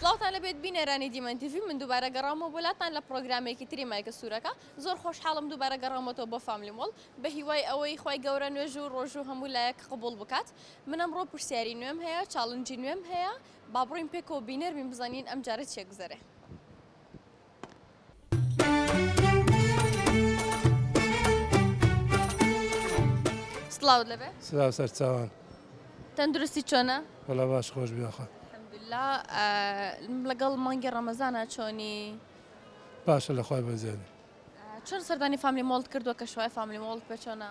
سڵاوتان لەبێت بینەرانی دیمەن تیڤی من دووبارە گەڕاومەوە بۆ لاتان لە پڕۆگرامێکی تری مایکە سوورەکە زۆر خۆشحاڵم دووبارە گەڕاومەتەوە بۆ فاملی مۆڵ بەهیوای ئەوەی خوای گەورە نوێژ و ڕۆژوو و هەموو لایەک قبوڵ بکات من ئەمڕۆ پرسیاری نوێم هەیە چاڵنجی نوێم هەیە با بڕۆین پێکەوە بینەر بین بزانین ئەمجارە چیەگوزەرێ. سڵاوت لەبێ سلاو سەرچاوان تەندروستی چۆنە وەڵا باش خۆش بیاخوا الحمدلله لەگەڵ مانگی ڕەمەزانە چۆنی باشە لە خۆی بەزێن چۆن سەردانی فامیلی مۆڵت کردووە کە شوای فامیلی مۆڵت پێ چۆنە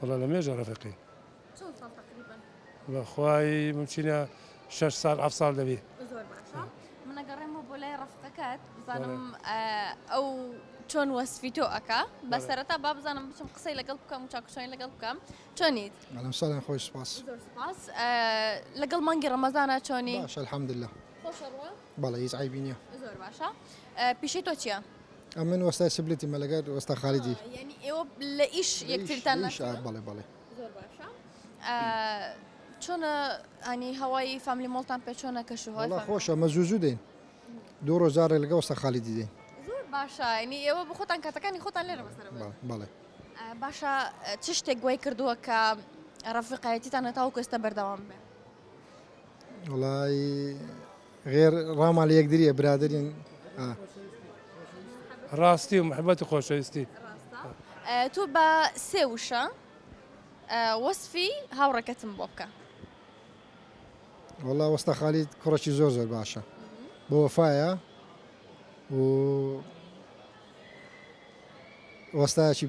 وەڵا لە مێژە ڕەفەقین. چەند ساڵ تەقریبەن؟ وەڵا خوای ممچینە شەش ساڵ هەفت ساڵ دەبێ. زۆر باشە من ئەگەڕێمەوە بۆ لای ڕەفقەکەت بزانم ئەو چۆن وەسفی تۆ ئەکا بە سەرەتا با بزانم بچم قسەی لەگەڵ بکەم و چاکوچۆنی لەگەڵ بکەم چۆنیت؟ ئەلەم ساڵیان خۆش سپاس. زۆر سپاس لەگەڵ مانگی ڕەمەزانا چۆنی؟ باشە الحمدللە. خۆشە ڕووە؟ بەڵێ هیچ عەیبی نییە. زۆر باشە پیشەی تۆ چییە؟ ئەمن وەستای سبلتی مە لەگەر وەستا خالیدی یعنی ئێوە لە ئیش یەکترتان لە بەڵێ بەڵێ زۆر باشە چۆنە ئەنی هەوای فامیلی مۆڵتان پێ چۆنە کەش هەڵا خۆشە مە زوو زوو دێن دوو ڕۆژارێ لەگە وەستا خالیدی دێن زۆر باشە ینی ئێوە بە خۆتان کاتەکانی خۆتان لێرە بەڵێ باشە چ شتێک گوای کردووە کە ڕەفقایەتیتان هەتاو کەستە بەردەوام بێ وڵی غێر ڕاما لە یەکدری ئە برادرین ئە. ڕاستی و محبەت و خۆشەویستی. ڕاستە تۆ بە سێ وشە وەسفی هاوڕێکەتم بۆ بکە. وەڵا وەستا خالید کوڕەکی زۆر زۆر باشە بە وەفایە و وەستایەکی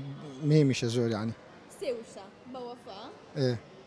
مێمیشە زۆر یعنی سێ وشە بە وەفا. ئێ.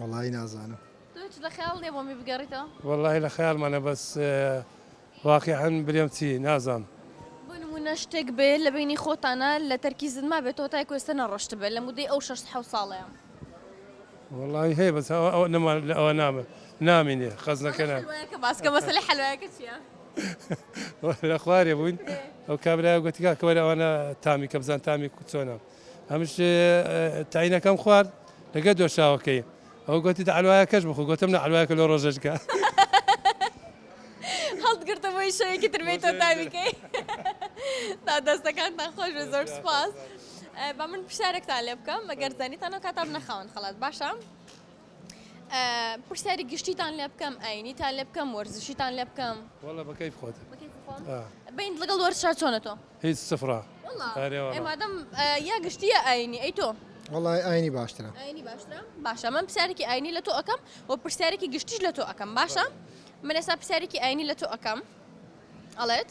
وەڵایی نازانم وەڵی لە خەیال مانە بەس واقعەن برێم چی نازانم. نە شتێک بێ لە بینی خۆتانە لە تەرکی زنما بێت تۆ تای کوێستە نەڕۆشت بێ لە مدەی ئەو شش حە ساڵەیە وڵی هەیە بەس ئەوە نەمان لە ئەوە نامە نامینێ خەزنەکەە باسکە مەسەی حلوایەکە چیە؟ لە خوارێ بووین ئەو کابرای گوتی کاکە وەرە ئەوانە تامی کە بزان تامی چۆنە ئەمش تاینەکەم خوارد لەگە دۆشاوەکەی ئەو گوتی دەعلوایە کەش بخۆ گوتم نە عەلوایەکە لۆ ڕۆژەشکە هەڵتگرتە بۆی شەوێکی تربێت تۆ تاویکەی تا دەستەکانتان خۆش بێ زۆر سپاس بە من پرسیارێکتان لێ بکەم مەگەر زانیتانەوە کاتاب نەخاون خەڵات باشە پرسیاری گشتیتان لێ بکەم ئاینیتان لێ بکەم وەرزشیتان لێ بکەم وەڵە بەکەی خۆت بین لەگەڵ وەرشا چۆنە تۆ هیچ سفرا مادەم یا گشتیە ئاینی ئەی تۆ وڵی ئاینی باشترە باشە من پرسیارێکی ئاینی لە تۆ ئەەکەم و پرسیارێکی گشتیش لە تۆ ئەەکەم باشە من ئێستا پرسیارێکی ئاینی لە تۆ ئەەکەم ئەڵێت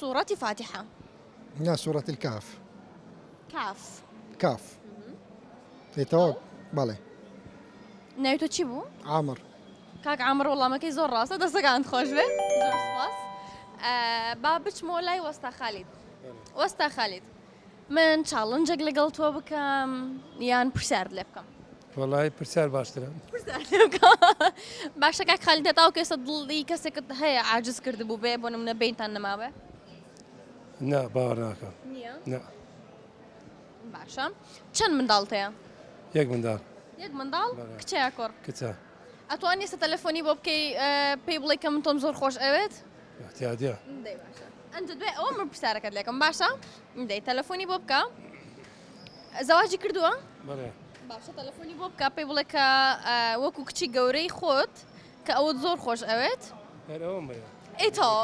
سورە فاتحە. نا سورە الکهف. کاف. کاف. ئێ تەواو بەڵێ. ناوی تۆ چی بوو؟ عامر. کاک عامر وەڵامەکەی زۆر ڕاستە دەستەکانت خۆش بێ زۆر سپاس. با بچمەوە لای وەستا خالید. وەستا خالید. من چاڵنجێک لەگەڵ تۆ بکەم یان پرسیارت لێ بکەم وەڵی پرسیار باشترە باشەکە خالی دەتاو کەسە دڵی کەسێکت هەیە ئاجز کرد بوو بێ بۆ نمونە بینتان نەماوێ نا باوەڕ ناکەم باشە چەند منداڵتەیە یەک منداڵ یەک منداڵ کچە کۆڕ کچە ئەتوانانی سە تەلەفۆنی بۆ بکەی پێی بڵێ کە من تۆم زۆر خۆش ئەوێت تیادە ئەنج دوای ئەوە من پرسیارەکەت لەکەم باشە دەی تەلەفۆنی بۆ بکە زەواجی کردووە باشە تەلەفۆنی بۆ بکە پێی بڵێ کە وەکو کچی گەورەی خۆت کە ئەوە زۆر خۆش ئەوێت ئەیتەوە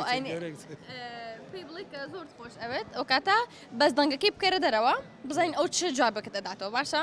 پێی بڵێ کە زۆر خۆش ئەوێت ئەو کاتە بەس دەنگەکەی بکەرە دەرەوە بزانین ئەو چ جوابەکە دەداتەوە باشە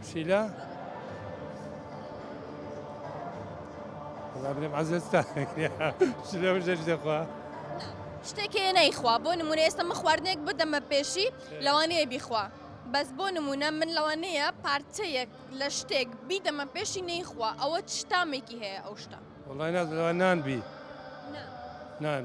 پسیلە وەڵا برێم عەزێت تا پسیلە بژە شتێ خوا شتێکێ نەیخوا بۆ نمونە ئێستا من خواردنێک بدەمە پێشی لەوانەیە بیخوا بەس بۆ نمونە من لەوانەیە پارچەیەک لە شتێک بیدەمە پێشی نەیخوا ئەوە شتامێکی هەیە ئەو شتا وڵای نازەوە نان بی نان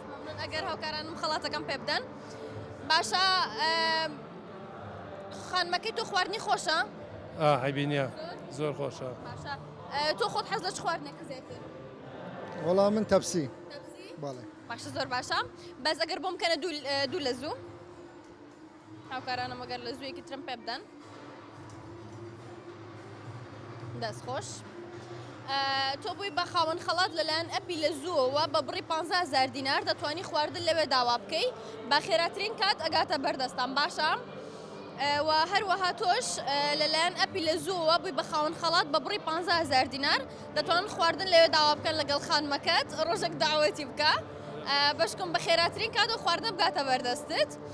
مەمنون ئەگەر هاوکارانم خەڵاتەکەم پێ بدەن باشە خانمەکەی تۆ خواردنی خۆشە هەبینە زۆر خۆشە تۆ خۆت حەز لە خواردنێکی زیاتر وەڵا من تەپسی باشە زۆر باشە بەس ئەگەر بۆم کەنە دوو لە زوو هاوکارانم ئەگەر لە زوویەکی ترم پێ بدەن دەست خۆش تۆ بووی بە خاوەن خەڵات لەلایەن ئەپی لە زووەوە بە بڕی 15000 دینار دەتوانی خواردن لەوێ داوا بکەی بە خێراترین کات ئەگاتە بەردەستان باشە و هەروەها تۆش لەلایەن ئەپی لە زووەوە بووی بە خاوەن خەڵات بە بڕی 15000 دینار دەتوان خواردن لەوێ داوا بکەن لەگەڵ خانمەکەت ڕۆژێک داوەتی بکە بەشکم بە خێراترین کات و خواردن بگاتە بەردەستت.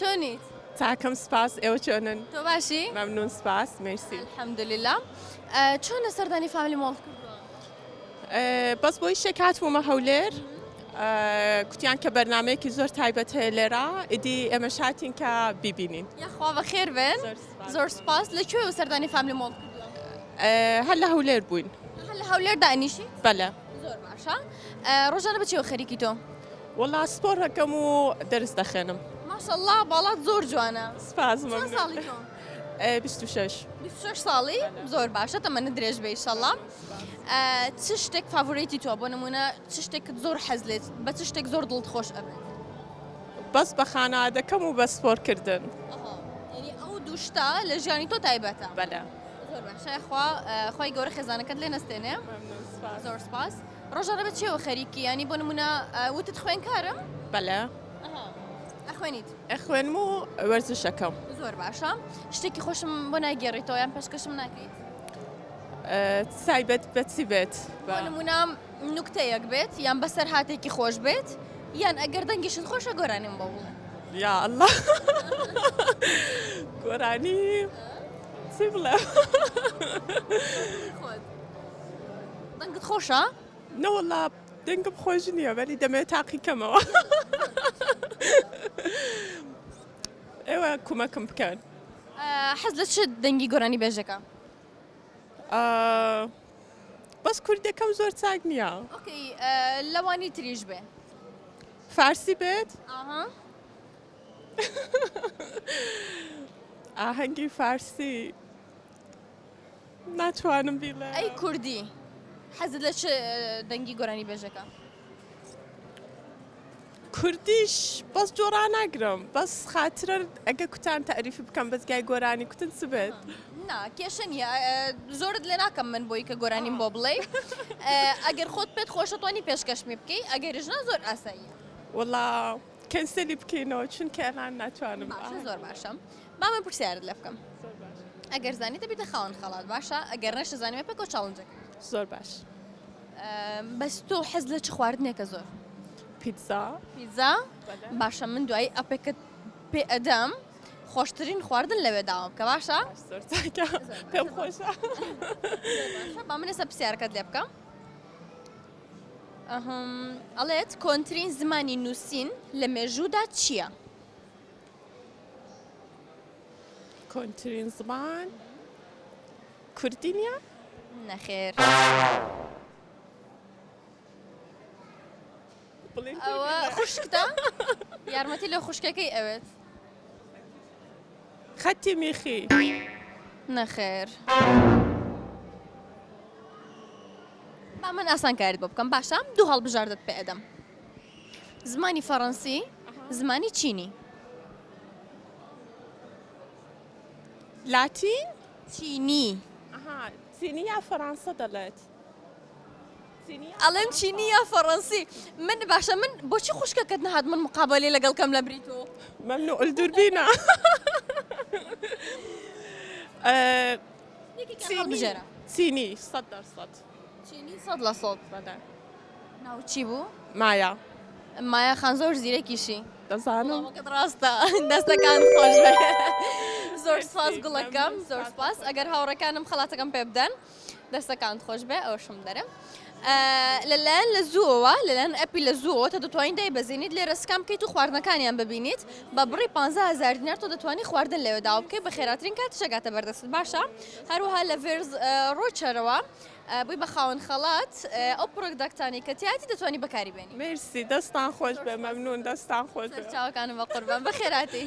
چۆنیت؟ چاکم سپاس ئێوە چۆنن؟ تۆ باشی؟ مەمنون سپاس مێرسی. الحمدللە چۆنە سەردانی فامیلی مۆڵت کردووە؟ بەس بۆ یشێک هاتبوومە هەولێر کوتیان کە بەرنمەیەکی زۆر تایبەت هەیە لێرە ئیدی ئێمە شاتین کە بیبینین یاخوا بە خێر بێن زۆر سپاس لە کوێ و سەردانی فامیلی مۆڵ هەر لە هەولێر بووین هەر لە هەولێر دانیشی بەلە زۆر باشە ڕۆژانە بە چێوە خەریکی تۆ؟ وەڵا سپۆر هەکەم و دەرس دەخێنم. ماشەڵڵا باڵات زۆر جوانە سپاس ساڵی زۆر باشە تەمەنە درێژ بە ئیشەڵام چ شتێک فاڤۆریتی تۆ بۆ نمونە چ شتێکت زۆر حەز لێت بە چ شتێک زۆر دڵت خۆش ئەبێت بەس بە خانە دەکەم و بە سپۆرکردن ئەو دوشتا لە ژیانی تۆ تایبەتە بەە. زۆر باش شای خوا خوای گەورە خێزانەکەت لێ نەستێنێ ممنون سپاس زۆر سپاس ڕۆژانە بە چێوە خەریکی ینی بۆ نمونە ئە، وتت خوێنکارم بەلە ئەها ئەخوێنیت ئەخوێنم و وەرزش ئەکەم زۆر باشە شتێکی خۆشم بۆ ناگێڕیتەوە یان پێشکەشم ناکەیت ئە، تایبەت بە چی بێت بۆ بە نمونە نوکتەیەک بێت یان بەسەرهاتێکی خۆش بێت یان ئەگەر دەنگیشت خۆشە گۆرانیم بۆ بڵێ یا اللە گۆرانی. چی بڵێ دەنگت خۆشە؟ نەوەڵا دەنگم خۆش نییە بەری دەمێت تاقی کەمەوە ئێوە کومەکم بکەن حەز لە چ دەنگی گۆرانی بێژەکە؟ بەس کوردەکەم زۆر چاک نییە لەوانی تریش بێ فارسی بێت؟ ئاهەنگی فارسی ناتوانم بیڵێم. ئەی کوردی حەزت لە چ دەنگی گۆرانی بێژەکە؟ کوردیش بەس جۆرا ناگرم بەس خاترە ئەگە کوتان تاریفی بکەم بەزگای گۆرانی کوتن چ بێت نا کێشە نیە زۆرت لێ ناکەم من بۆی کە گۆرانیم بۆ بڵێ ئەگەر خۆت پێت خۆشەتوانی پێشکەشمی بکەی ئەگەریش نا زۆر ئاسایی وڵا. کەنسەلی بکەینەوە چونکە ئەلان ناتوانم باشە زۆر باشم با من پرسیارت لێ بکەم ئەگەر زانی دەبیتە خاوەن خەڵات باشە ئەگەر نەشە زانیمە پێکۆ چاڵنجەکە زۆر باش بەس تۆ حەز لە چ خواردنێکە زۆر پیتزا پیتزا باشە من دوایی ئەپێکت پێ ئەدەم خۆشترین خواردن لەوێ داوام کە باشە پێم خۆشە با من لەسە پرسیارەکەت لێ بکەم ئەڵێت کۆنترین زمانی نووسین لە مێژوودا چییە؟ کۆنترین زمان کوردی نیە؟ نەخێر ئەوە خوشکتە یارمەتی لە خوشکەکەی ئەوێت خەتی میخی نەخێر. با من ئاسانکاریت بۆ بکەم باشە دوو هەڵبژاردەت پێ ئەدەم زمانی فەڕەنسی زمانی چینی لاتین چینی چینی یا فەڕەنسا دەڵێت ئەڵێن چینی یا فەڕەنسی من باشە من بۆچی خوشکەکەت نهات من مقابلێ لەگەڵ کەم لە بریت و مەمنوع الدوربینە چینی سەد لە سەد ناوچی بوو مایا مایا خان زۆر زیرەکیشی دەزانم ڕاستە دەستەکان خۆش زۆر سپاس گوڵەکەم زۆر سپاس ئەگەر هاوڕەکانم خڵاتەکەم پێ بدەن دەستەکان خۆش بێ ئەوشم دەرم لە لایەن لە زووەوە لە لایەن ئەپی لە زووەوە تۆ دەتوانیت دایبەزێنیت لێرە سکان بکەیت و خواردنەکانیان ببینیت بە بڕی پانزە هەزار دینار تۆ دەتوانی خواردن لەوێ داوا بکەی بە خێراترین کاتیش ئەگاتە بەردەستت باشە هەروەها لە ڤێرز ڕۆچەرەوە بووی بە خاوەن خەڵات ئەو پڕۆداکتانی کە تیاتی دەتوانی بەکاری بێنی مێرسی دەستان خۆش بێ مەمنون دەستان خۆش بێ. چاوەکانم بە قوربان بە خێراتی.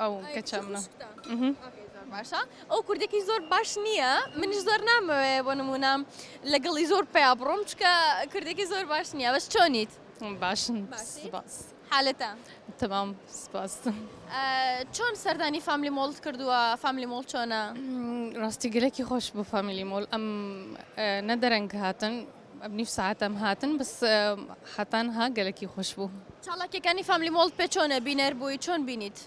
ئەو کچە منە زۆر باشە ئەو کوردێکی زۆر باش نییە منیش زۆر نامەوێ بۆ نمونام لەگەڵی زۆر پیا بڕۆم چکە کوردێکی زۆر باش نییە بەس چۆنیت باشن باس حالەتە تمام سپاس چۆن سەردانی فامیلی مۆڵت کردووە فامیلی مۆڵ چۆنە ڕاستی گەلێکی خۆش بۆ فامیلی مۆل ئەم نەدەرەنگ هاتن ام نیو ساعتم هاتن بس حەتان ها گەلەکی خوش بوو. چالاکیەکانی فاملی مۆڵد پێ چۆنە بینەر بووی چۆن بینیت؟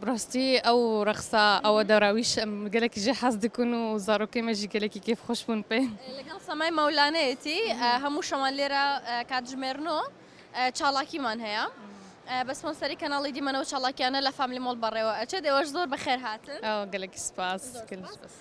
بڕاستی ئەو ڕەخسا ئەوە دەراویش گەلێکی ژێ حەز دکن و زارۆکەی مەژی گەلێکی کێف خۆش بوون پێ لەگەڵ سەمای مەولانەیەتی هەموو شەوان لێرە کاتژمێرنۆ چاڵاکیمان هەیە بە سپۆنسەری کەناڵی دیمەنەوە چاڵاکیانە لە فاملی مۆڵ بەڕێوە ئەچێت ئێوەش زۆر بەخێر هاتن گەلێکی سپاس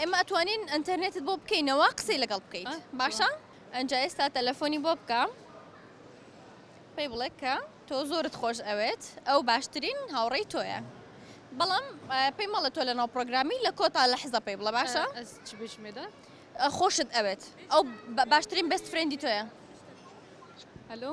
ئێمە ئەتوانین ئەنتەرنێتت بۆ بکەینەوە قسەی لەگەڵ بکەیت باشە ئەجا ئێستا تەلەفۆنی بۆ بکە پێی بڵێ کە تۆ زۆرت خۆش ئەوێت ئەو باشترین هاوڕێی تۆیە بەڵام پێی مەڵە تۆ لە ناو پرۆگرامی لە کۆتا لە حزە پێی بڵە باشە بشمێدا خۆشت ئەوێت ئەو باشترین بەست فرێندی تۆیە هەلو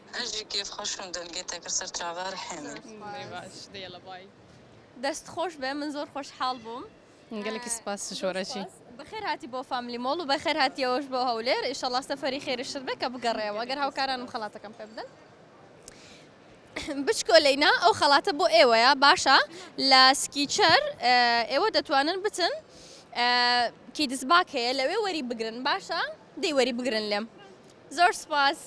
هەژی کێف خۆش و دل گێ تێکر سەر چاڤار حێمن. دەست خۆش بێ من زۆر خۆش حاڵ بووم. گەلەکی سپاس شۆرەچی. بەخێر هاتی بۆ فاملی مۆڵ و بەخێر هاتیەوەش بۆ هەولێر ئیشەڵا سەفەری خێریشت بێ کە بگەڕێیەوە گەر هاوکارانم خەڵاتەکەم پێ بدەن. بچکۆلەی نا ئەو خەڵاتە بۆ ئێوەیە باشە لە سکیچەر ئێوە دەتوانن بچن کیدزباک هەیە لەوێ وەری بگرن باشە دەی وەری بگرن لێم. زۆر سوپاس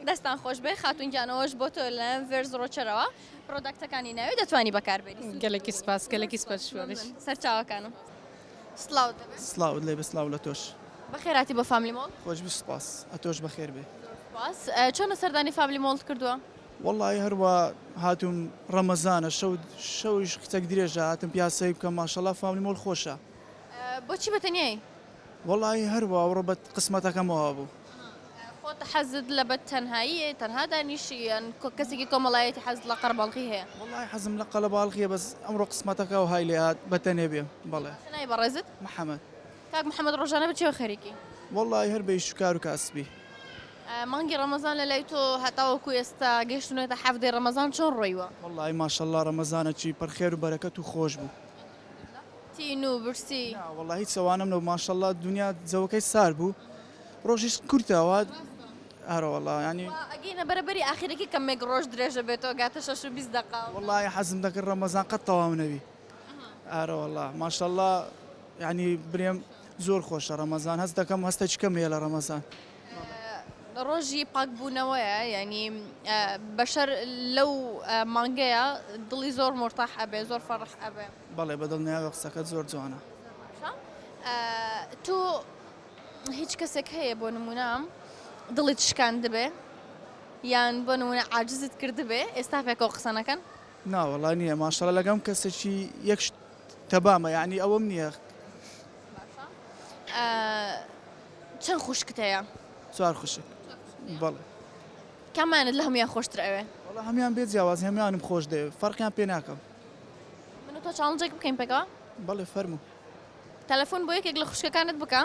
دەستان خۆش بێ خاتون گیان ئەوەش بۆ تۆ لە ڤێرز ڕۆچەرەوە پرۆداکتەکانی ناوی دەتوانی بەکاربێنی گەلێکی سپاس گەلێکی سپاس سەرچاوەکانم سلااو سلااو لێ بسلااو لە تۆش بەخێراتی بۆ فامیلی مۆڵ خۆش سپاس ئەتۆش بەخێر بێ سپاس چۆنە سەردانی فامیلی مۆڵ کردووە وەڵی هەروە هاتووم ڕەمەزانە شەو شەویش کچەک درێژە هاتم پیاسەی بکەم ماشەڵا فامیلی مۆڵ خۆشە بۆچی بەتەنیایی وەڵاهی هەر واو ڕەبەت قسمەتەکەم وا بوو. خۆت حەزت لە بە تەنهاییە تەنها دانیشی یان کەسێکی کۆمەڵایەتی حەزت لە قەرەباڵغی هەیە؟ وەڵاهی حەزم لە قەلەباڵغیە بەس ئەمڕۆ قسمەتەکە وەهای لێ هات بە تەنێ بێم بەڵێ. باشە ناوی بەڕێزت؟ محمد. کاک محمد ڕۆژانە بە چیەوە خەریکی؟ وەڵاهی هەر بە ئیش و کار و کاسبی. مانگی ڕەمەزان لە لای تۆ هەتاوەکو ئێستا گەیشتونەتە حەڤدەی ڕەمەزان چۆن ڕۆیوە؟ وەڵاهی ماشەڵا ڕەمەزانەکی پڕ خێر و بەرەکەت و خۆش بوو. تین و برسی. نا وەڵا هیچ ئەوانەم نەبوو ماشەڵا دونیا جەوەکەی سارد بوو ڕۆژیش کورتە وا ئەرە وەڵا یانی ئەگەینە بەرەبەری ئاخیرەکەی کەمێک ڕۆژ درێژە بێتەوە گاتە شەش و بیست دەقە وەڵای حەزم دەکرد ڕەمەزان قەت تەواو نەبی ئارە وەڵا ماشەڵا یانی برێم زۆر خۆشە ڕەمەزان هەست دەکەم هەستێکی کەم هەیە لە ڕەمەزان. ڕۆژی پاکبوونەوەیە یانی بەشەر لەو مانگەیە دڵی زۆر مۆرتاح ئەبێ زۆر فەڕح ئەبێ بەڵێ بە دڵنیاوە قسەکەت زۆر جوانە تۆ هیچ کەسێک هەیە بۆ نمونام دڵیت شکاندبێ یان بۆ نمونە عاجزت کردبێ ئێستا پێکەوە قسەنەکەن ناوەڵا نییە ماشەڵە لەگەم کەسێکی یەک تەبامە یعنی ئەوەم نییە چەند خوشکت هەیە؟ چوار خوشک بەڵێ. کامانت لە هەموویان خۆشتر ئەوێ؟ وەڵا هەموویان بێ جیاواز هەموویانم خۆش دەوێ فەرقیان پێ ناکەم. من و تۆ چاڵنجێک بکەین پێکەوە؟ بەڵێ فەرموو. تەلەفۆن بۆ یەکێک لە خوشکەکانت بکە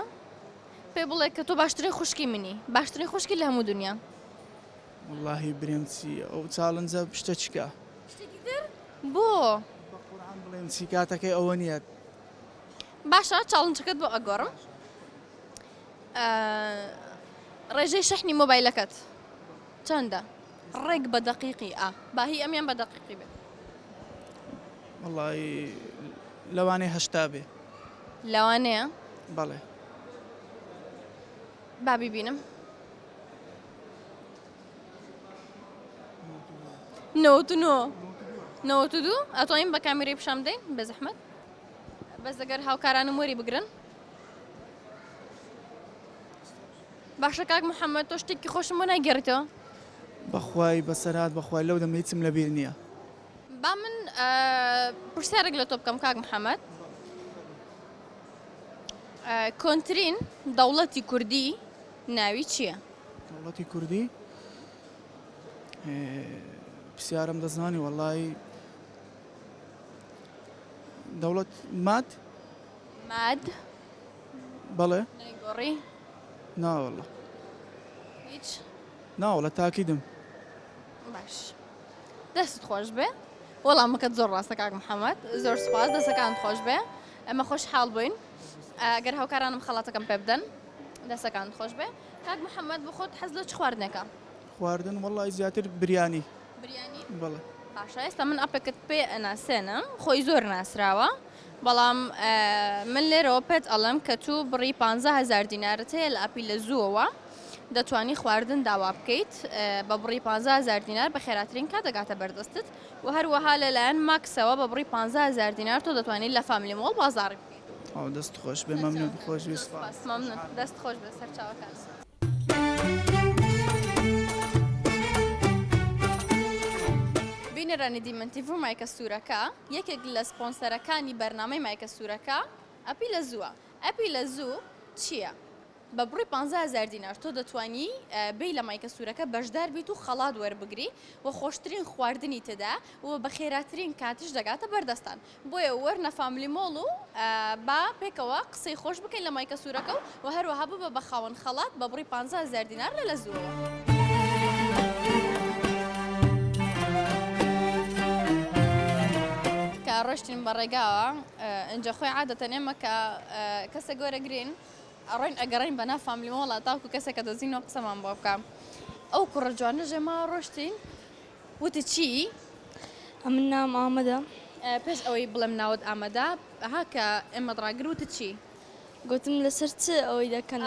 پێ بڵێ کە تۆ باشترین خوشکی منی باشترین خوشکی لە هەموو دنیا. وەڵاهی برێم چی ئەو چاڵنجە شتە چیکە؟ شتێکی تر بۆ؟ بەقورعان بڵێم چی کاتەکەی ئەوە نییە. باشە چاڵنچەکەت بۆ ئەگۆڕم ڕێژەی شەحنی مۆبایلەکەت چەندە ڕێک بە دەقیقی ئا باهی ئەمیان بە دەقیقی بێت وڵی لەوانێ هەشتا بێ لەوانەیە بەڵێ بابی بینم نەوە نەوە دوو ئەتۆین بە کامیری پیششان بدەین بە زەحمەت بەس ئەگەر هاوکارانم وەری بگرن. باشە کاک محمد تۆ شتێکی خۆشم بۆ ناگێڕیتەوە. بەخوای بەسەرهات بەخوای لەو دەمە هیچم لەبیر نییە. با من پرسیارێک لە تۆ بکەم کاک محمد کۆنترین دەوڵەتی کوردی ناوی چییە؟ دەوڵەتی کوردی پرسیارم دەزانی وەڵی دەوڵەت ماد ماد بەڵێ نەیگۆڕی ناوەڵە هیچ ناوەڵە تاکیدم باش دەست خۆش بێ وەڵامەکەت زۆر ڕاستە کاک محەممەد زۆر سپاس دەسەکان خۆش بێ ئەمە خۆش حاڵ بووین ئەگەر هاوکارانم خەڵاتەکەم پێ بدەن دەسەکان خۆش بێ کاک محەممەد بخۆت حەز لە چ خواردنێکە خواردن وەڵای زیاتر بریانی بریانی بەڵێ. باشە ئێستا من ئەپێکت پێ ئەناسێنم خۆی زۆر ناسراوە بەڵام من لێرەوە پێت ئەڵم کە تو بڕی پ هزار دینارت هەیە لە ئەپی لە زووەوە دەتوانی خواردن داوا بکەیت بە بڕی پ هزار دینار بە خێراترین کا دەگاتە بەردەستت و هەروەها لەلایەن ماکسەوە بە بڕی پ هزار دینار تۆ دەتوانانی لە فامیلی مۆڵ بازاڕی بکەیت. ئەو دەست خۆش بێ مەمنون خۆشویست. مەمنون دەست خۆش بێ سەرچاوەکانم. بینەرانی دیمەنتی ڤوو مایکە سوورەکە یەکێک لە سپۆنسەرەکانی بەرنامەی مایکە سوورەکە ئەپی لە زووە ئەپی لە زوو چییە؟ بە بڕی پ هزار دینار تۆ دەتوانی بی لە مایکە سوورەکە بەشدار بیت و خەڵات وەربگری و خۆشترین خواردنی تێدا و بە خێراترین کاتیش دەگاتە بەردەستان بۆیە وەرنە فاملی مۆڵ و با پێکەوە قسەی خۆش بکەین لە مایکە سوورەکە و وە هەروەها ببە بە خاوەن خەڵات بە بڕی پانزە هەزار دینار لە لە زووەوە. کە ڕۆشتین بە ڕێگاوە ئینجا خۆی عادەتەن ئێمە کە کەسێک وەرەگرین ئەڕۆین ئەگەڕین بە نا فاملی مۆڵە تاوکو کەسێکە دۆزینەوە قسەمان بۆ بکە ئەو کوڕە جوانە ژێما ڕۆشتین وتت چی؟ ئەمن ناوم ئامەدە. پێش ئەوەی بڵێم ناوت ئامەدە ها کە ئێمەت ڕاگر وتت چی؟ گوتم لەسەر چ ئەوەی دەکەن؟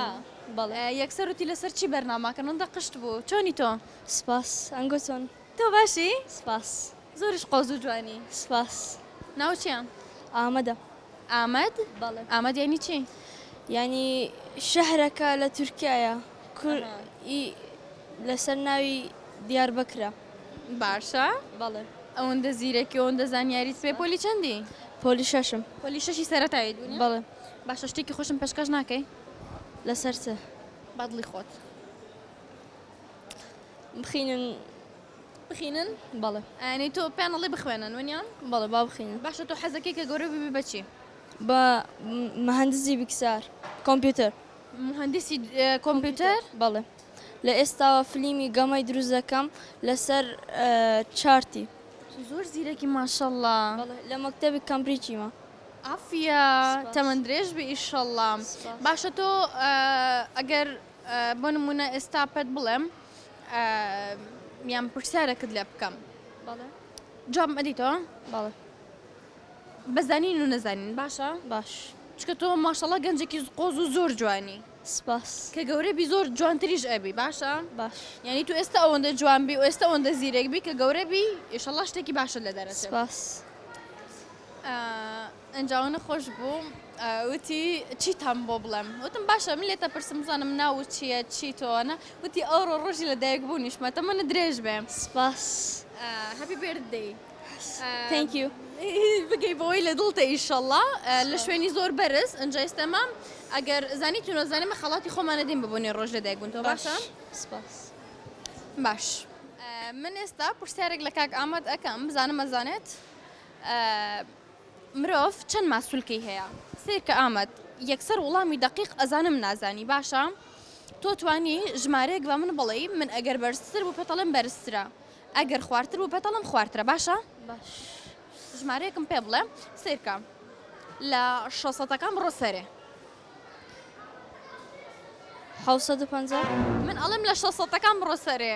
بەڵێ. یەکسەر وتی لەسەر چی بەرناماکەن؟ ئەوەندە قشت بوو. چۆنی تۆ؟ سپاس. ئەنگۆ چۆن؟ تۆ باشی؟ سپاس. زۆریش قۆز و جوانی. سپاس. ناوت چیە؟ ئامەدە. ئامەد؟ بەڵێ. ئامەد یانی چی؟ یانی شەهرەکە لە تورکیایە کور ی لەسەر ناوی دیاربەکرە. باشە بەڵێ. ئەوەندە زیرەکی ئەوەندە زانیاریت پێ پۆلی چەندی؟ پۆلی شەشم. پۆلی شەشی سەرەتایت بوو نیە؟ بەڵێ. باشە شتێکی خۆشم پێشکەش ناکەی؟ لەسەر چ؟ بەدڵی خۆت. بخینن. بخینن؟ بەڵێ. یانی تۆ پێیان ئەڵێی بخوێنن ونیە؟ بەڵێ با بخینن. باشە تۆ حەزەکەی کە گەورە ببی بە چی؟ بە مهندسی بکسار کۆمپیوتەر. مهندسی کۆمپیوتەر؟ بەڵێ. لە ئێستاوە فلیمی گەمەی دروست دەکەم لەسەر چارتی. زۆر زیرەکی ماشەڵڵا. بەڵێ لە مەکتەبی کەمبریجیمە. عافیە تەمەن درێژ بی ئیشەڵڵا. سوپاس. باشە تۆ ئەگەر بۆ نمونە ئێستا پێت بڵێم یان پرسیارەکت لێ بکەم جام ئەدیتەوە باڵ بەزانین و نەزانین باشە باش چکە تۆ ماشەڵە گەنجێکی قۆز و زۆر جوانی سپاس کە گەورە بی زۆر جوانتریش ئەبی باشە باش یعنی تو ئێستا ئەوەندە جوان بی و ئێستا ئەوەندە زیرەک بی کە گەورە بی ئێشەڵا شتێکی باشە لە دەرە سپاس ئینجا و نەخۆش بوو وتی چیتان بۆ بڵێم وتم باشە من لێتە پرسم بزانم ناوو چییە چی تۆوانە وتی ئەوڕۆ ڕۆژی لە دایک بوونیشمە تەمەنت درێژ بێ سپاس هەپی بێرت دەی تانک یو بگەی بەوەی لە دڵتە ئیشەڵا لە شوێنی زۆر بەرز ئەنجا ئێستە مام ئەگەر زانی تو نەزانێ مە خەڵاتی خۆمانە دین ببوونی ڕۆژ لە دایک بوون تۆ باشە سپاس باش من ئێستا پرسیارێک لە کاک ئامەد ئەکەم بزانم ئەزانێت. مرۆڤ چەند ماسولکەی هەیە؟ سەیرکە ئامەد یەکسەر وڵامی دەقیق ئەزانم نازانی باشە تۆ توانی ژمارەیەک بە من بڵێی من ئەگەر بەرزتر بوو پێتەڵێم بەرزترە ئەگەر خوارتر بوو پێتەڵم خوارترە باشە ژمارەیەکم پێ بڵێ سەیرکە لە شەست سەدەکان بڕۆ سەرێ حەوت سەد و پەنجا من ئەڵێم لە شەست سەدەکان بڕۆ سەرێ.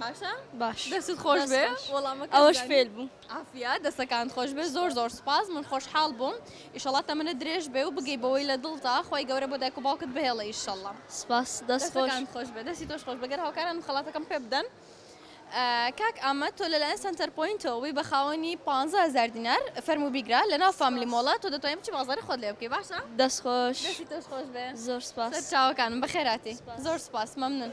باشە باش دەستت خۆش بێ وەڵامەکە ئەوەش فێل بوو ئافیا دەستەکان خۆش بێ زۆر زۆر سپاس من خۆشحاڵ بووم ئیشەڵات تەمەنە درێژ بێ و بگەی بەوەی لە دڵتا خۆی گەورە بۆ دایک و باوکت بهێڵە ئیشەڵە سپاس دەستەکان خۆش بێ دەستی تۆش خۆش بەگەر هاوکاران خەڵاتەکەم پێ بدەن کاک ئامە تۆ لەلایەن سنتەر پوینتەوەی بە خاوەنی 150 دینار فەرمو بیگرە لە ناو فامیلی مۆڵە تۆ دەتوانین بچی بازاری خۆت لێ بکەی باشە دەست خۆش دەستی تۆش خۆش بێ زۆر سپاس چاوەکانم بەخێراتی زۆر سپاس مەمنون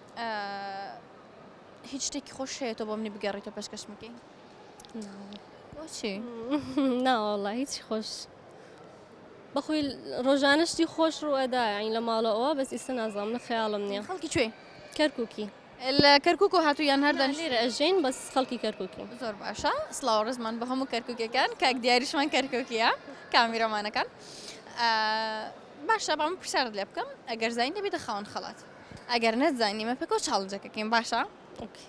هیچ شتێکی خۆش هەیە تۆ بۆ منی بگەڕیتەوە پێشکەشمەکەی بۆچی ناوەڵە هیچ خۆش بەخۆی ڕۆژانە شتی خۆش ڕوەدا ئەین لە ماڵەوە بەس ئیستا نازام لە خەیاڵم نییە خەڵکی کوێ کەرکووکی لە کەرکک و هاتو یان هەردان لێرە ئەژین بەس خەڵکی کەرکووکی زۆر باشە سلااو ڕزمان بە هەموو کەرککەکان کاک دیاریشمان کەرککیە کامیرەمانەکان باشە بەم پرسیارت لێ بکەم ئەگەر زین دەبێتە خاون خەڵات ئەگەر نەتزانی ئێمە پێکەوە چاڵنجەکەکەین باشە ئۆکی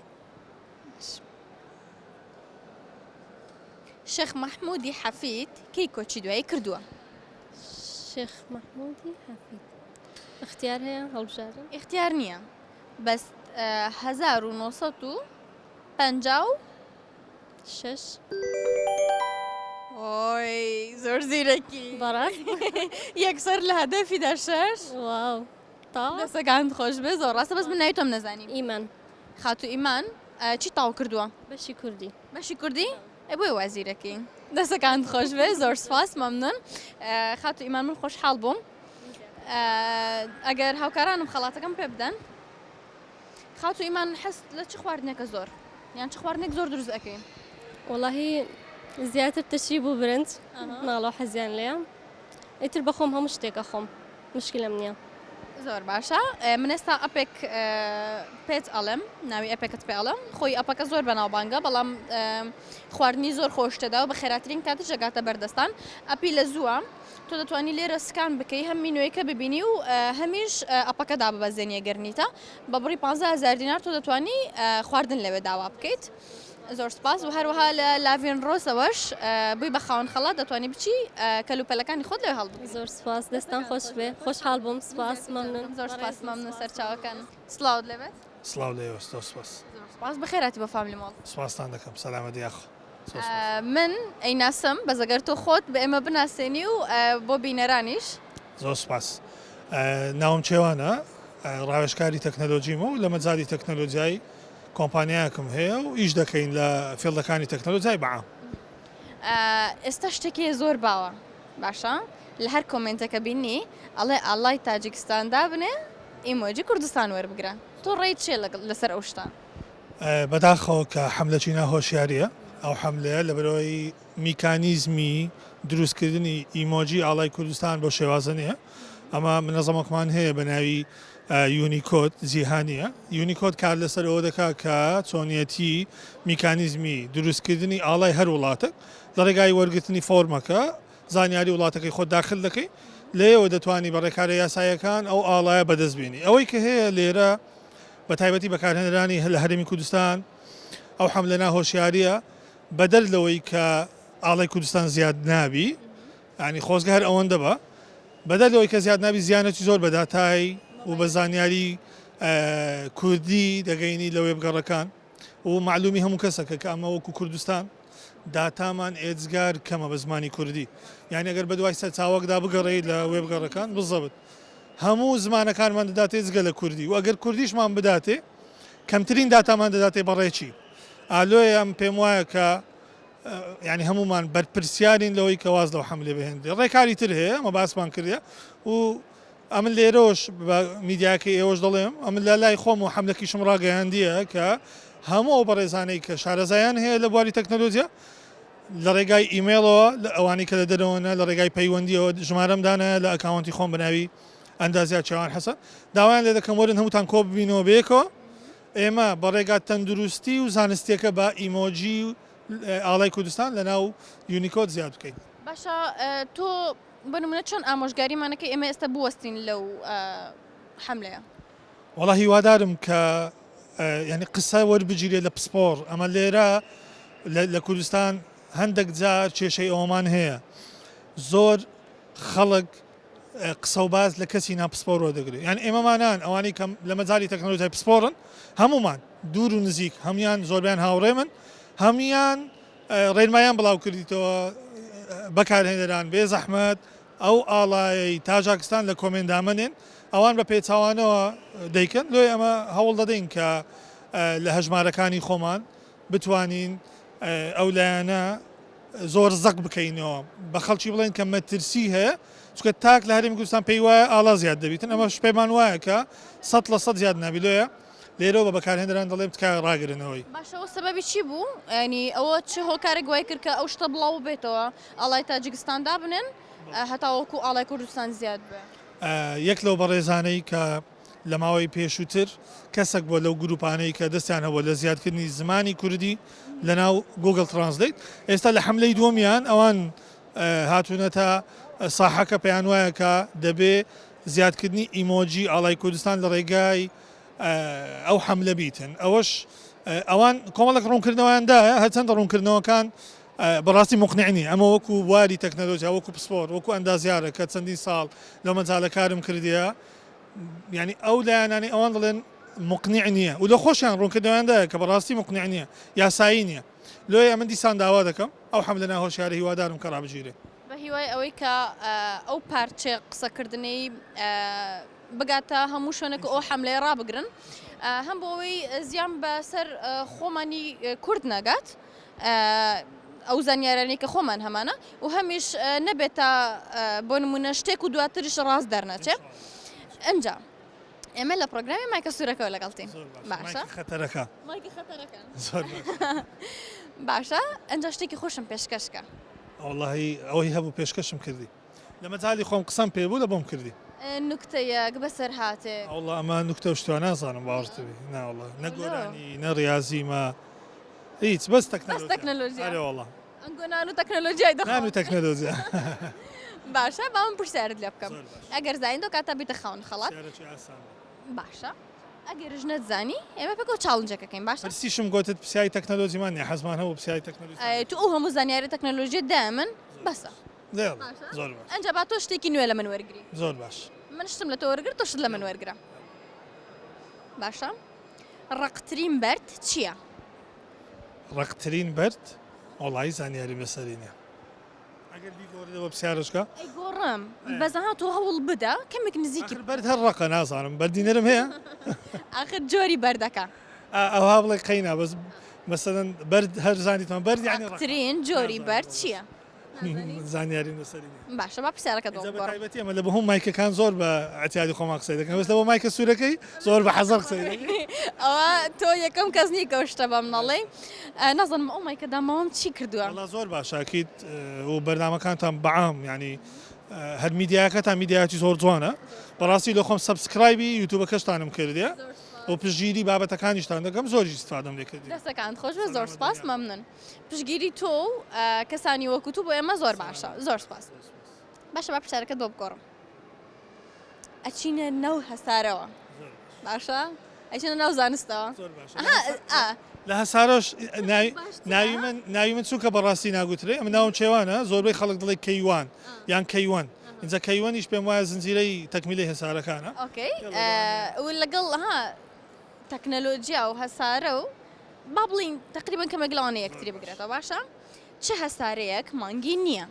شێخ مەحمودی حەفید کەی کۆچی دوایی کردووە شێخ مەحمودی حەفید اختیار هەیە هەڵبژارن اختیار نییە بەس 1950 شش ئۆی زۆر زیرەکی بەڕاست یەکسەر لە هەدەفیدا شش واو تاو. دەستەکانت خۆشبێ زۆر ڕاستە بەس من ناوی تۆم نەزانی. ئیمان. خاتوو ئیمان چیت تاو کردووە؟ بەشی کوردی. بەشی کوردی؟ ئەی بۆیە وا زیرەکی. دەستەکانت خۆشبێ زۆر سوپاس مەمنون خاتوو ئیمان من خۆشحاڵ بووم ئەگەر هاوکارانم خەڵاتەکەم پێ بدەن خاتوو ئیمان حەست لە چ خواردنێکە زۆر یان چ خواردنێک زۆر دروست ئەەکەین وڵی زیاتر تشری بوو برنج ناڵۆ حەزیان لێیان ئیتر بەخۆم هەموو شتێک ئەخۆم مشکلم نییە. زۆر باشە من ئێستا ئەپێک پێت ئەڵم ناوی ئەپێکت پێ ئەڵم خۆی ئەپەکە زۆر بەناوبانگە بەڵام خواردنی زۆر خۆشتەدا و بە خێراترین کاتە جەگاتە بەردەستان ئەپی لە زووە تۆ دەتوانی لێرە سکان بکەی هەم مینوێکە ببینی و هەمیش ئەپەکەدا ببەزێنیە گەرنیتە بە بڕی 15 هزار دینار تۆ دەتوانی خواردن لەوێ داوا بکەیت زۆر سوپاس و هەروەها لە لاڤین ڕۆزەوەش بووی بە خاوەن خەڵات دەتوانی بچی کەلوپەلەکانی خۆت لەوێ هەڵبگری زۆر سوپاس دەستان خۆش بێ خۆشحاڵ بووم سوپاس مەمنون زۆر سوپاس مەمنون سەرچاوەکان سڵاوت لێ بێت سڵاو لە ئێوەش زۆر سوپاس زۆر سوپاس بەخێرهاتی بۆ فاملی مۆڵ سوپاستان دەکەم سەلامەت یاخوا زۆر سوپاس. من ئەیناسم بەس ئەگەر تۆ خۆت بە ئێمە بناسێنی و بۆ بینەرانیش. زۆر سوپاس ناوم کێوانە ڕاوێژکاری تەکنەلۆجیمە و لە مەجالی تەکنەلۆجیای کۆمپانیایەکم هەیە و ئیش دەکەین لە فیڵدەکانی تەکنەلۆجای بەعام. ئێستا شتەکێ زۆر باوە باشە لە هەر کۆمێنتەکە بینی ئەڵێ ئاڵای تاجیکستان دابنێ ئیمۆجی کوردستان وەربگرە تۆ ڕێیت چیە لەسەر ئەو شتە؟ بەداخەوە کە حەملەکی ناهۆشیاریە ئەو حەملەیە لەبەرئەوەی میکانیزمی دروستکردنی ئیمۆجی ئاڵای کوردستان بەو شێوازە نیە ئەمە منەزەمەکمان هەیە بەناوی یونیکۆد جیهانییە، یونیکۆد کار لەسەر ئەوە دەکات کە چۆنیەتی میکانیزمی دروستکردنی ئاڵای هەر وڵاتەک لە ڕێگای وەرگرتنی فۆرمەکە زانیاری وڵاتەکەی خۆت داخل دەکەی لێیەوە دەتوانی بە ڕێکارە یاساییەکان ئەو ئاڵایە بەدەست بێنی ئەوەی کە هەیە لێرە بە تایبەتی بەکارهێنەرانی لە هەرێمی کوردستان ئەو حەملە ناهۆشیارییە بەدەر لەوەی کە ئاڵای کوردستان زیاد نابی یانی خۆزگە هەر ئەوەندە بە بەدەر لەوەی کە زیاد نابی زیانەتی زۆر بە داتای و بە زانیاری کوردی دەگەینی لە وێبگەڕەکان و معلومی هەموو کەسەکە کە ئەمە وەکو کوردستان داتامان ئێجگار کەمە بە زمانی کوردی یعنی ئەگەر بەدوای سەرچاوەکدا بگەڕێی لە وێبگەڕەکان بزەبت هەموو زمانەکانمان دەداتێ جگە لە کوردی و ئەگەر کوردیشمان بداتێ کەمترین داتامان دەداتێ بەڕێکی ئالۆیان پێم وایە کە یانی هەموومان بەرپرسیارین لەوەی کە واز لەو حەملێ بهێنرێ ڕێکاری تر هەیە ئەمە باسمان کردە و ئەمن لێرەوەش بە میدیاکە ئێوەش دەڵێم ئەمن لە لای خۆم و حملەکیشم ڕاگەیاندیە کە هەموو ئەو بەڕێزانەی کە شارەزایان هەیە لە بواری تەکنەلۆجییا لە ڕێگای ئیممەڵەوە لە ئەوانی کە لە دەرەوەە لە ڕێگای پەیوەندیەوە ژمارەم دانە لە ئەکاونتی خۆم بناوی ئەندازیا چاوان حەسە داوایان لێ دەکەم وەرن هەمووتان کۆببینەوە بێکەوە ئێمە بە ڕێگا تەندروستی و زانستیەکە بە ئیمۆجی ئاڵای کوردستان لە ناو یونیکۆد زیاد بکەین. باشە تۆ بۆ نمونە چۆن ئامۆژگاریمان ئەکەی ئێمە ئێستا بوەستین لەو حەملەیە؟ وەڵا هیوادارم کە یانی قسە وەربگیرێت لە پسپۆڕ ئەمە لێرە لە کوردستان هەندەک جار کێشەی ئەوەمان هەیە زۆر خەڵک قسە و باس لە کەسی نا پسپۆرەوە دەگرێت یان ئێمە مانان ئەوانەی کە لە مەجالی تەکنەلۆجیای پسپۆرن هەموومان دوور و نزیک هەموان زۆربیان هاوڕێ من هەموان ڕێنمایان بڵاو کردیتەوە بەکارهێنەران بێ زەحمەت ئەو ئاڵای تاژاکستان لە کۆمێن دامەنێن ئەوان بە پێچوانەوە دەیکەن لۆی ئەمە هەوڵ دەدەین کە لە هەژمارەکانی خۆمان بتوانین ئەو لایەنە زۆر زەق بکەینەوە بە خەڵکی بڵێن کە مەترسی هەیە چکە تاک لە هەرمی کوردستان پێی وایە ئاڵا زیاد دەبیتن ئەمە شپێمان وایە کە سە لە سە زیاد نابیلۆیە لێرەوە بە بەکارهێنەران دەڵێ بتکە ڕاگرنەوەی باشەوە سەبەبی چی بوو ئەنی ئەوە چه هۆکارە گوای کرد کە ئەو شتە بڵاو بێتەوە ئاڵای تاجیکستان دابنن هەتاوەکو ئاڵای کوردستان زیاد بێ یەک لەو بەڕێزانەی کە لە ماوەی پێشووتر کەسەک بووە لەو گرووپانەی کە دەستیان هەبووە لە زیادکردنی زمانی کوردی لەناو گووگڵ ترانسلەیت، ئێستا لە حەملەی دووەمیان ئەوان هاتوونەتە ساحەکە پێیان وایە کە دەبێ زیادکردنی ئیمۆجی ئاڵای کوردستان لە ڕێگای ئەو حەملە بیتن ئەوەش ئەوان کۆمەڵێک ڕوونکردنەوەیان دایە هەرچەندە ڕوونکردنەوەکان بەڕاستی مقنع نین ئەمە وەکو بواری تەکنەلۆجیا وەکو پسپۆر وەکو ئەندازیارە کە چەندین ساڵ لەو مەجالە کارم کردیە یعنی ئەو لایەنانی ئەوان دەڵێن مقنع نییە و لە خۆشیان ڕوونکردویاندایە کە بەڕاستی مقنع نییە یاسایی نییە لۆیە من دیسان داوا دەکەم ئەو حەملە ناهۆشیارە هیوادارم کە ڕابگیرێ بە هیوای ئەوەی کە ئەو پارچێ قسەکردنەی بگاتە هەموو شوێنێک ئەو حەملەیە ڕابگرن هەم بۆ ئەوەی زیان بەسەر خۆمانی کورد نەگات ئەو زانیارانەی کە خۆمان هەمانە و هەمیش نەبێتە بۆ نمونە شتێک و دواترش ڕاست دەرنەچێت ئەجا ئێمە لە پرۆگرامی مایکە سوورەکەەوە لەگەڵتین باشە خەتەرەکە باشە ئەجا شتێکی خۆشم پێشکەشکە ئەوڵی ئەوەی هەبوو پێشکەشم کردی لە مەجالی خۆم قسەم پێ بوو لە بۆم کردی. نوکتەیەک بەسەرهاتێک. وەڵا ئەمە نوکتە و شتوە نازانم باوەڕت بی نا وەڵا نە گۆرانی نە ڕیازی مە هیچ بەس تەکنەلۆجیا بەس تەکنەلۆجیا ئەرێ وەڵا ئەنگۆ نان و تەکنەلۆجیای دەخۆم نان و تەکنەلۆجیا باشە با من پرسیارت لێ بکەم ئەگەر زانی دۆ کاتە بیتە خاوەن خەڵات پرسیارێکی ئاسان باشە ئەگەرش نەتزانی ئێمە پێکەوە چاڵنجەکەکەین باشە پرسیشم گوتت پرسیاری تەکنەلۆجیمان نیە حەزمان هەبوو پرسیاری تەکنەلۆجیا ئەی تو ئەو هەموو زانیاری تەکنەلۆژیە دای من بەسە باشە؟ زۆر باش ئەنجا با تۆ شتێکی نوێ لە من وەرگری زۆر باش من شتم لە تۆ وەرگر تۆ شت لە من وەرگرە باشە ڕقترین بەرد چییە؟ ڕقترین بەرد وڵی زانیاری بەسەری نیە ئەگەر بیگۆڕیەوە پرسیارشکە ئەی گۆڕم بەزەها تۆ هەوڵ بدە کەمێک نزیکی ئەگەر بەرد هەر ڕقە نازانم بەردینەرم هەیە ئاخر جۆری بەردەکە ئا- ئەوها بڵێ قەینا بەس مەسەن بەرد هەر زانیتمان بەرد یعنی ڕق. ڕقترین جۆری نازانم بەرد وەڵاش. چییە؟ زانیاری نووسری باشە با پرسیارەکە دەڵبەتی ئەمە لە بە هەم مایکەکان زۆر بە عتیادی خۆمان قسەی دەکەن بەس لەەوە مایکە سوورەکەی زۆر بە حەزەر قسەی ئەوە تۆ یەکەم کەس نی گەشتە بەم نەڵێ نازانم ئەو مایکە دامەوەم چی کردووە لە زۆر باشاکیت و بەرنمەکانتان بەعام ینی هەر میدیاکە تا میدیاتی زۆر جوانە بەڕاستی لە خۆم سبسکرایبی یوتوبە کەشتانم کردێ. و پژگیری بابەتەکانیشتان دەگەم زۆری سپادم لێکرد دەستەکان خۆش زۆر سپاس مەمنن پشگیری تۆ و کەسانی وەکو تو بۆ ئێمە زۆر باشە زۆر سپاس باشە با پرسیارەکەت بۆ بگۆڕم ئەچینە ناو هەسارەوە باشە ئەچینە ناو زانستەوە لە هەسارۆش ناوی من ناوی من چونکە بەڕاستی ناگوترێ ئەم ناوم چێوانە زۆربەی خەڵک دڵی کەیوان یان کەیوەن اینجا کەیوەنیش پێم وایە زنجیرەی تەکمیلی هەسارەکانە لەگەڵ تەکنەلۆجیا و هەسارە و با بڵێین تەقریبەن کەمێک لەوانەیە یەکتری بگرێتەوە باشە چ هەسارەیەک مانگی نییە؟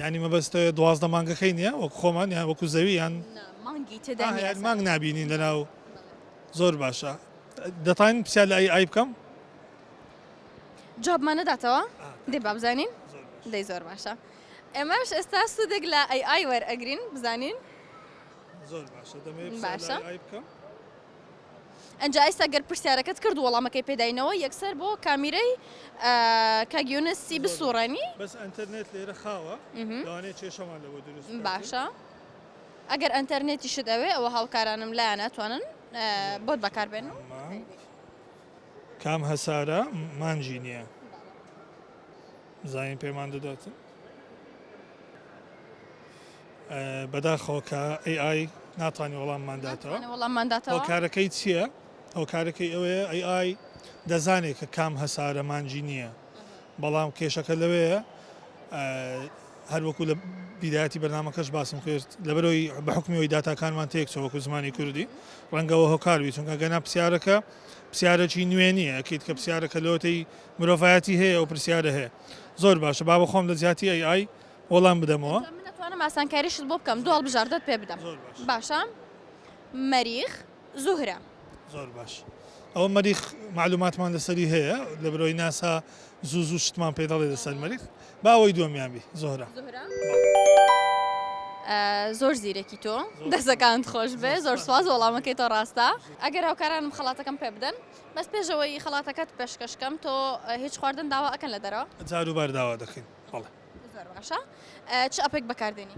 یانی مەبەست دوازدە مانگەکەی نییە وەک خۆمان یان وەکو زەوی یان نا مانگی تێدا آه، نییە یان مانگ سەرەتا. نابینین لەناو زۆر باشە دەتوانین پرسیار لە ئای ئای بکەم جوابمان نەداتەوە دێ با بزانین دەی زۆر باشە ئێمەش ئێستا سوودێک لە ئەی ئای وەرئەگرین بزانین زۆر باشە دەمەوێت پرسیار لە باشە. ئای ئای بکەم ئنجا ئیستا گەر پرسیارەکەت کرد وەڵامەکەی پێداینەوە یەکسەر بۆ کامیرەی کاک یونسی بسوڕێنی بەس ئەنتەرنێت لێرە خاوە لەوانەیە کێشەمان لەوە دروست باشە ئەگەر ئەنتەرنێتی شت ئەوێ ئەوە هاوکارانم لایە ناتوانن بۆت بەکاربێن کام هەسارە مانجی نییە زانین پێمان دەدات بەداخەوەکە AI ناتوانانی وەڵاممان داتەوە وەڵاممان داتەوە کارەکەی چییە؟ ئەو کارەکەی ئەوەیە AI دەزانێت کە کام هەسارە مانجی نییە بەڵام کێشەکە لەوەیە هەروەکو لە بیداەتی بەنامەکەش باسم کرد لەبەرەوەی بە حکومیەوەی داتاکانمان تێک چۆوەکو زمانی کوردی ڕەنگەوە هۆکاروی چونکە گەنا پرسیارەکە پرسیارەکی نوێنیە ئەکییت کە پرسیارەکە لەوەی مرۆڤایەتی هەیە ئەو پرسیارە هەیە. زۆر باشە با بە خۆم لە جیاتی ئەی ئای وەڵام بدەمەوە. من ئەتوانم ئاسانکاریشت بۆ بکەم دوو هەڵبژاردەت پێ بدەم. زۆر باشە. باشە مەریخ زوهرە. زۆر باش ئەوە مەریخ معلوماتمان لەسەری هەیە لە برۆی ناسا زوو زوو شتمان پێ دەڵێ لەسەر مەریخ با ئەوەی دووەمیان بی زۆرە. زۆر زیرەکی تۆ دەسەکانت خۆش بێ زۆر سواز وەڵامەکەی تۆ ڕاستە ئەگەر هاوکارانم خەڵاتەکەم پێ بدەن بەس پێش ئەوەی خەڵاتەکەت پێشکەش کەم تۆ هیچ خواردن داوا ئەکەن لە دەرەوە؟ جار و بار داوا دەکەین بەڵێ. زۆر باشە چ ئەپێک بەکاردێنی؟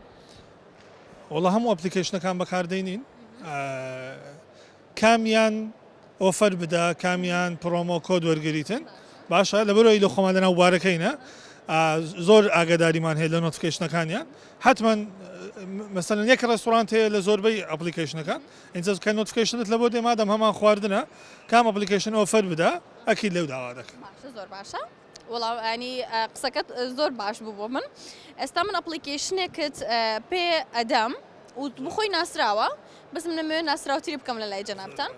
وەڵا هەموو ئەپلیکەیشنەکان بەکاردێنین کامیان ئۆفەر بدا کامیان پرۆمۆ کۆد وەرگریتن باشە لەبەرەوەی لە خۆمان لەناو بارەکەینە زۆر ئاگاداریمان هەیە لە نۆتفکەیشنەکانیان حتمما مەسەن یەک ڕێستورانت هەیە لە زۆربەی ئەپلیکەیشنەکان ئینجا کە نۆتفکەیشنت لەبۆ دێ مادەم هەمان خواردنە کام ئەپلیکەیشن ئۆفەر بدا ئەکید لێو داوا دەکەم. باشە زۆر باشە. وڵاو ئەنی قسەکەت زۆر باش بوو بۆ من ئێستا من ئەپلیکیشنێکت پێ ئەدەم وت بخۆی ناسراوە بەس من نمێ ناسراوتری بکەم لە لای جەنابتان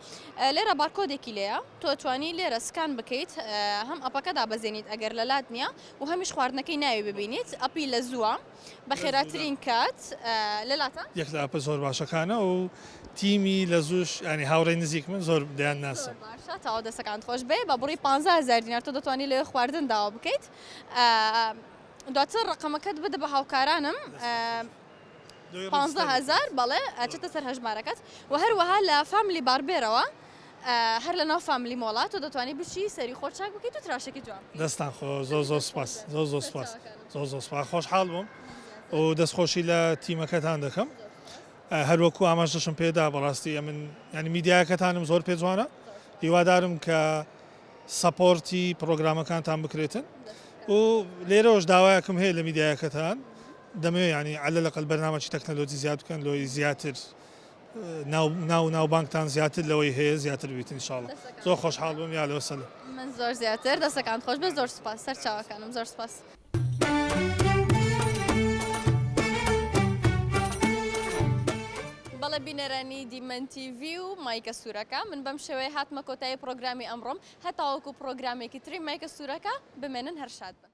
لێرە بارکۆدێکی لەیە تۆ توانی لێرە سکان بکەیت هەم ئەپەکەدا بەزێنیت ئەگەر لە لات نییە و هەمیش خواردنەکەی ناوی ببینیت ئەپی لە زووە بەخێراترین کات لەلاتان. یەک لە ئەپە زۆر باشەکانە و تیمی لە زوش ینی هاوڕێی نزیک من زۆر دەیان ناسم تاوا دەسەکان خۆش بێ بە بڕی 15هزار دینار تۆ دەتوانانی لەوێ خواردن داوا بکەیت دواتر ڕقەمەکەت بدە بە هاوکارانم 15هزار بەڵێ ئەچێتە سەر هەژمارەکەت و هەروەها لە فاملی باربێرەوە هەر لە ناو فاملی مۆڵە تۆ دەتوانی بچی سەری خۆت چاک بکەیت و تراشەکەی جوان بکەیت. دەستتان خۆش زۆر زۆر سوپاس زۆر زۆر سوپاس زۆر زۆر سوپاس خۆشحاڵ بووم و دەست خۆشی لە تیمەکەتان دەکەم هەر وەکو ئاماژەشم پێدا بەڕاستی ئەمن ینی میدیاکەتانم زۆر پێ جوانە هیوادارم کە سەپۆرتی پرۆگرامەکانتان بکرێتن و لێرەوەش داوایەکم هەیە لە میدیاکەتان دەمەوێت ینی عەلە لەقەل بەرنامەی تەکنەلۆجی زیاد بکەن لۆی زیاتر ناو ناوبانگتان زیاتر لەوەی هەیە زیاتر بیت ان شاءاللە زۆر خۆشحاڵ بووم یا لەوە سەل. من زۆر زیاتر دەستەکانت خۆش بێت زۆر سوپاس سەرچاوەکانم زۆر سوپاس. بەڵێ بینەرانی دیمەن تیڤی و مایکە سوورەکە من بەم شێوەیە هاتمە کۆتایی پڕۆگرامی ئەمڕۆم هەتاوەکو پڕۆگرامێکی تری مایکە سوورەکە بمێنن هەر شاد بن.